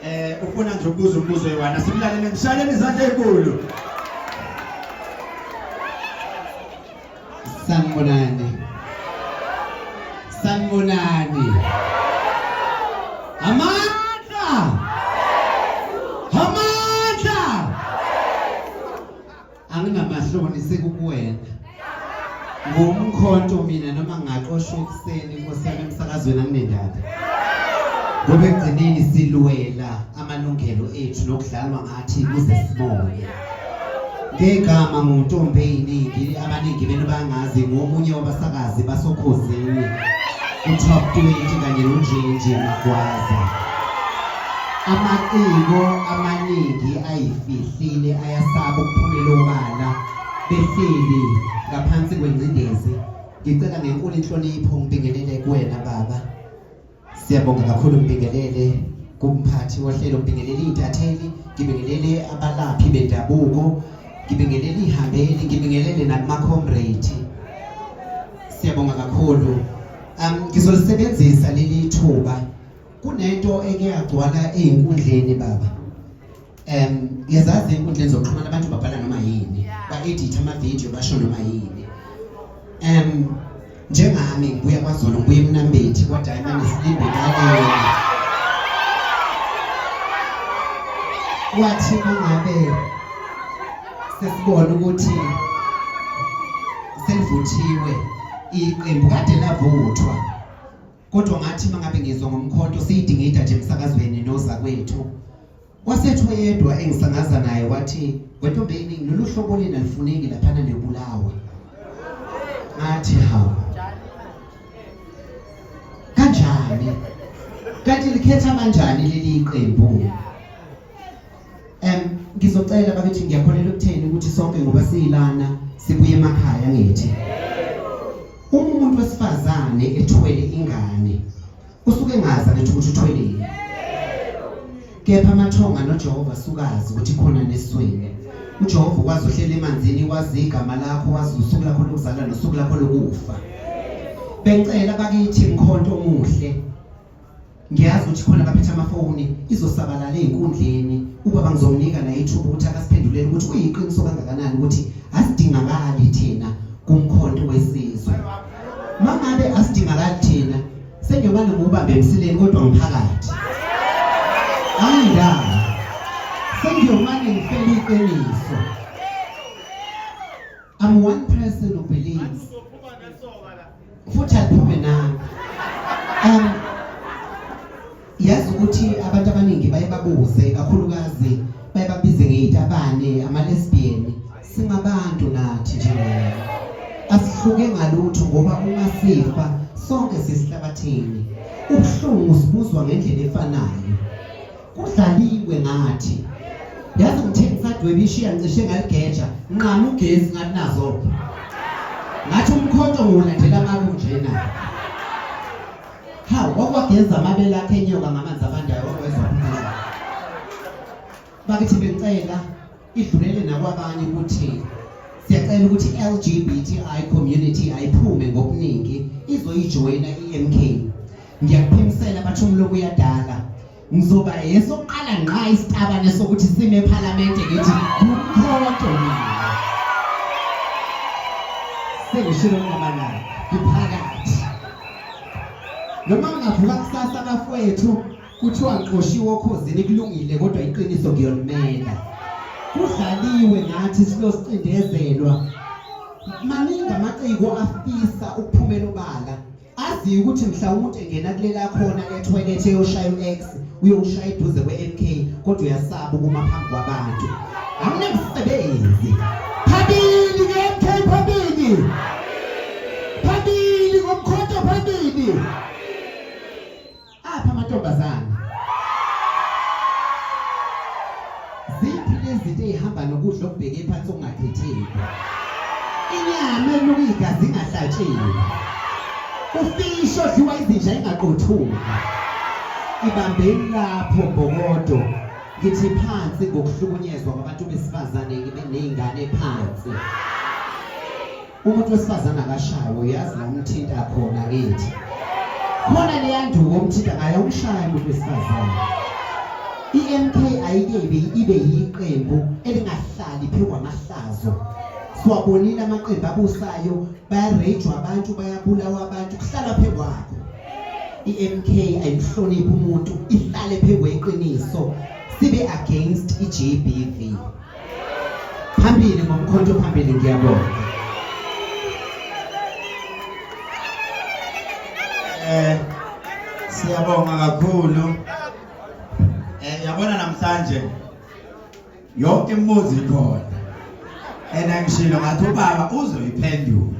Eh ufuna nje ukubuza umbuzo yiwana simlalele ngishaleni izandla ezinkulu. Sanibonani. Sanibonani. Amandla. Amandla. angingamahloni sekukuwena ngumkhonto mina noma ngaqoshwa ekuseni inkosi yami emsakazweni anginendaba ngoba ekugcineni silwela amalungelo ethu nokudlalwa ngathi kuze sibone ngegama nguntombi eyiningi abaningi benu bangazi ngomunye wabasakazi basokhozini utop 20 kanye nonjenje magwaza Amaciko amaningi ayifihlile ayasaba ukuphumela obala behleli ngaphansi kwengcindezi. Ngicela ngenkulu inhlonipho ngibingelele kuwena baba. Siyabonga kakhulu ngibingelele kumphathi wohlelo ngibingelele intatheli, ngibingelele abalaphi bendabuko, ngibingelele ihambeli, ngibingelele nakuma comrade. Siyabonga kakhulu. Um, ngizolisebenzisa leli thuba kunento eke yagcwala eyinkundleni baba um yazazi enkundleni zokuxhumana abantu babhala noma yini ba-editha amavidiyo basho noma yini um njengami ngibuya kwazolo ngibuya emnambethi kwadiamond silinde ngalena wathi mangabe sesibona ukuthi selivuthiwe iqembu kade lavuthwa kodwa ngathi mangabe ngizwa ngomkhonto siyidingida nje emsakazweni noza kwethu wasethu oyedwa engisangaza naye wathi wentombeni lolu hlobo lina lifuneki laphana nebulawa ngathi hawu kanjani kanti likhetha kanjani leli qembu Em ngizocela bakithi ngiyakholelwa ukutheni ukuthi sonke ngoba siyilana sibuye emakhaya ngithi. Uma umuntu wesifazane ethwele ingane usuke engazi ukuthi ukuthi uthweleni. Kepha amathonga noJehova sukazi ukuthi khona neswini. uJehova ukwazi uhlela emanzini wazi igama lakho wazi usuku lakho lokuzalwa nosuku lakho lokufa bengicela bakithi mkhonto omuhle ngiyazi ukuthi khona abaphethe amafoni izosabalala ey'nkundleni ubaba ngizomnika naye ithuba ukuthi akasiphendulele ukuthi kuyiqiniso kangakanani ukuthi asidingakali thina kumkhonto wesizwe uma ngabe asidingakali thina sengiyobane ngubambe emsileni kodwa ngiphakathi ayindaba sengiyomane ngifele iqiniso I'm one person who believes. Futhi aphume nami. Um yazi ukuthi abantu abaningi baye babuze kakhulukazi baye babize ngeyitabane ama-lesbian singabantu nathi njengayo asihluke ngalutho ngoba uma sifa sonke sisihlabathini ubuhlungu sibuzwa ngendlela efanayo kudlaliwe ngathi yazi ngithini sadwebe ishiya ngicishe ngaligeja nqama ugesi ngathi nazo ngathi umkhonto ngiwulandela ngaku njena hawu kwakwageza amabele akhe enyoka ngamanzi abandayo wakwezwa umntu bakithi bengicela idlulele nakwabanye ukuthi siyacela ukuthi i-LGBTI community ayiphume ngokuningi izoyijoyina i-MK ngiyakuphimisela bathi umloku uyadala ngizoba yesokuqala ngqa isitabane sokuthi sime ephalamende ngithi kumkhonto mina sengishilo ngamanani ngiphakathi noma ngingavuka kusasa bafowethu kuthiwa ngixoshiwe okhozini kulungile kodwa iqiniso ngiyolumela kudlaliwe ngathi silosicindezelwa maningi amaciko afisa ukuphumela ubala aziyo ukuthi mhlawumbe engena kulela khona etoilet eyoshaya u-x uyowushaya eduze kwe-mk kodwa uyasaba ukuma phambi kwabantu awunamsebenzi phambili ke-mk phambili phambili ngomkhonto phambili Apha amantombazane. Ziphi lezinto ezihamba nokudla okubheke phansi okungakhetheki? Inyama eluka igazi ingahlatshiwe. Ufishi odliwa izinja ingaqothuka. Ibambeni lapho mbokodo. Ngithi phansi ngokuhlukunyezwa kwabantu besifazane nezingane phansi. umuntu wesifazane akashawe uyazi la umthinta khona kithi khona leya nduku omthinta ngayo umshaya umuntu wesifazane i-mk ayike ibe yiqembu elingahlali phezu kwamahlazo siwabonile amaqembu abusayo bayarejwa abantu bayabulawa abantu kuhlala phezu kwakho i-mk ayihloniphi umuntu ihlale phezu kweqiniso sibe against i-gbv phambili ngomkhonto phambili ngiyabonga eh siyabonga kakhulu eh yabona namhlanje yonke imibuzo ikhona and angishilo ngathi ubaba uzoyiphendula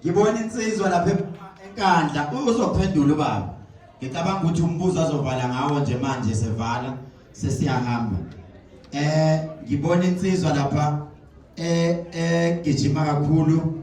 ngibona insizwa lapha enkandla uzophendula ubaba ngicabanga ukuthi umbuzo azovala ngawo nje manje sevala sesiyahamba eh ngibona insizwa lapha eh eh gijima kakhulu